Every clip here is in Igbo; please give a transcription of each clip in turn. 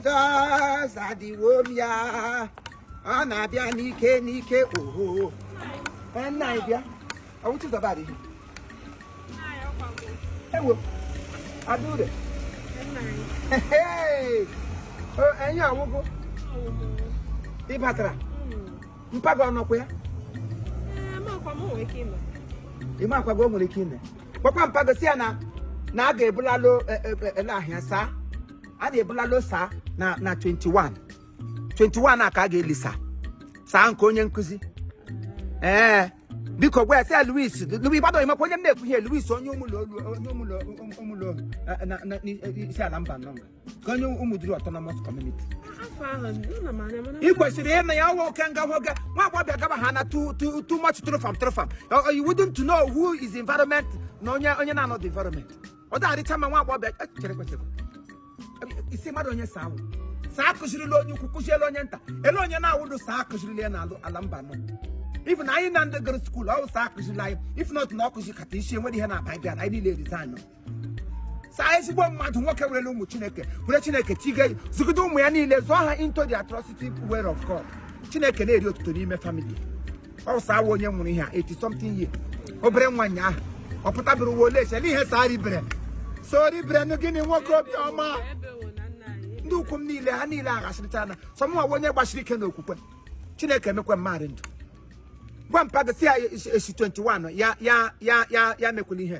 Jizọs adịwo m ya ọ na-abịa n'ike n'ike oho nna anyị bịa ọ wụ Chizọba adịghị ewo adụre enyi ọ wụ gị batara mpa gị ọ nọkwa ya ị ma akwago o nwere ike ime gwakwa mpa gị sị ya na na a ga-ebulalo ele ahịa saa a na-ebulalo saa na na 21 21 a ka a ga-eli saa saa nke onye nkụzi ee biko gwa ya sị ya Louis Louis gbado ị makwa onye m na-ekwu ihe Louis onye ụmụlọ onye ụmụlọ ụmụlọ eh, na- na- na- Isiala Mbanọ ka onye Ụmụdiri autonomous community afọ ahụ nna m anya mana ị kwesịrị ịnụ ya ọwa oke nga nwoke nwa agbọghọ bịa gaba ha na too too- too much trofam trofam you wouldn't know who is environment na onye onye na-anọdị environment ọ dịgharịcha ma nwa agbọghọ e, chere kwechekwa isi mmadụ onye saa wụ saa akụzirila onye ukwu kụziela onye nta ele onye na-awụdụ saa akụzirila ya na ala Mbanọ even anyị na ndị gara school ọ saa akụzirila anyị if not na ọ kụzikata isi enwere ihe na-aba bịa na anyị niile resign saa ezigbo mmadụ nwoke werele ụmụ chineke were chineke tiga zụgide ụmụ ya niile zụọ ha into the atrocity way of God chineke na-eri otuto n'ime family ọ saa wụ onye nwụrụ ihe a 80 something year obere nwa nya ahụ ọ pụtabere ụwa ole echele ihe saa ribere so ribere nụ gịnị nwoke obiọma ndị ukwu m niile ha niile aghasịrịchana sọ mụwa onye gbasiri ike n'okwukwe chineke emekwe mmadụ ndụ gwa mpa gị sị ya e si 21 ya ya ya ya ya mekwula ihe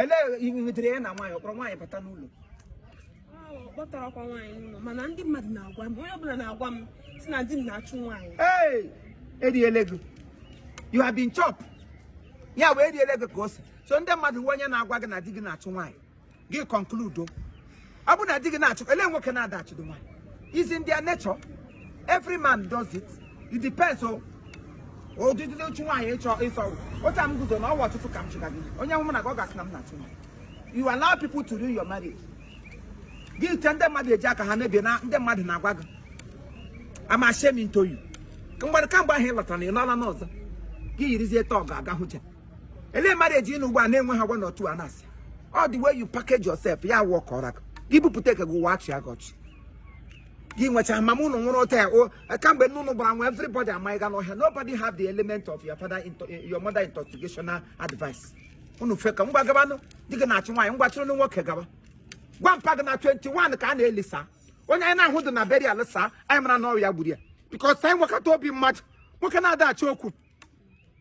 ele nwetara ya na nwaanyị ọ kpọrọ nwaanyị bata n'ụlọ ọ kpọtarakwa nwaanyị n'ụlọ mana ndị mmadụ na-agwa m onye ọbụla na-agwa m sị na di m na-achụ nwaanyị ee eriele gị you have been chop ya wụ eriele gị ka o si so ndị mmadụ wụ onye na-agwa gị na di gị na-achụ nwaanyị gị conclude o ọ bụ na di gị na-achụ ele nwoke na-ada achụdụ nwaanyị is in their nature every man does it it depends on ọdịdị ịchụ nwaanyị ị chọ ịsọ otu a m guzo na ụwa ụtụtụ ka m chụga gị onye hụ mụ na gị ọ ga-asị na m na-achụ nwaanyị you allow people to ruin your marriage gị ite ndị mmadụ eji aka ha mebie na ndị mmadụ na-agwa gị I'm ashamed into you mgbere kamgbe ahụ ị lọtara na ị lọla n'ọzọ gị yirizie tọgụ aga hụja ele marriage nọ ugbu a na-enwe ha gwa n'otu a na-asị ọ the way you package yourself ya wụ ka ọra gị bupụta ike gị ụwa achịa gị ọchị gị nwecha mama ụnụ nwụrụ ụta ya o kamgbe nne ụnụ gbara nwa everybody amaghị ga n'ọhịa nobody have the element of your father into, your mother intoxicational advice ụnụ feka ngwa gabanụ di gị na-achụ nwaanyị ngwa chụrụ nwoke gaba gwa mpa gị na 21 ka a na-eli saa onye anyị na-ahụdị na burial saa anyị mara na ọ wụ ya gburu ya because anyị nwekọta obi mmadụ nwoke na-ada achọ okwu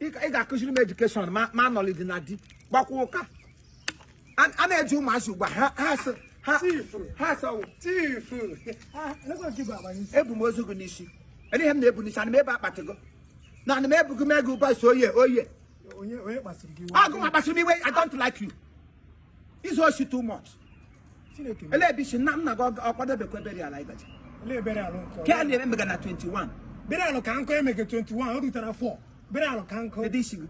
ị ga-akụziri m education ma ma knowledge na di gbakwa ụka a a na-eji ụmụazị ugbu a ha ha sị ha ha sị ọwụ tifu ebu m ozu gị n'isi Ele ihe m na-ebu n'isi ana m ebu akpati gị na ana m ebu gị mee gị ụba so oye oye onye onye kpasiri gị iwe ọ gị nwa kpasiri m iwe i don't like you izu osi too much ele ebe isi nna nna gị ọ kwadebekwa burial ịbacha ke a na-eme mega na 21 burial ka nkọ emege 21 o rutara 4 burial ka nkọ ede isi gị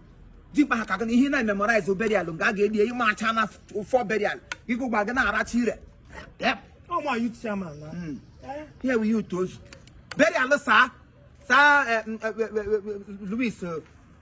dikpa ha ka gị na ihe na-memorize burial nga a ga-eli ihe macha na 4 burial ịgụgba gị na-aracha ire ọma youth chairman na ihe wụ ihe utu ozu burial saa saa eh, m, eh, eh, eh, eh, Louis eh,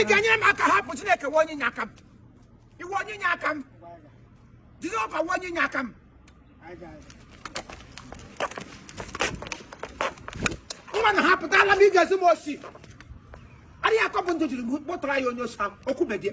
ị ga-enyere m aka hapụ Chineke wụ onye inyeaka m ị wụ onye inyeaka m Jehova wụ onye inyeaka m nwa na hapụtala m ị ga-ezi m osi adịghị akọ bụ ndụ jiri kpọtara ya onye osi ahụ okwubedie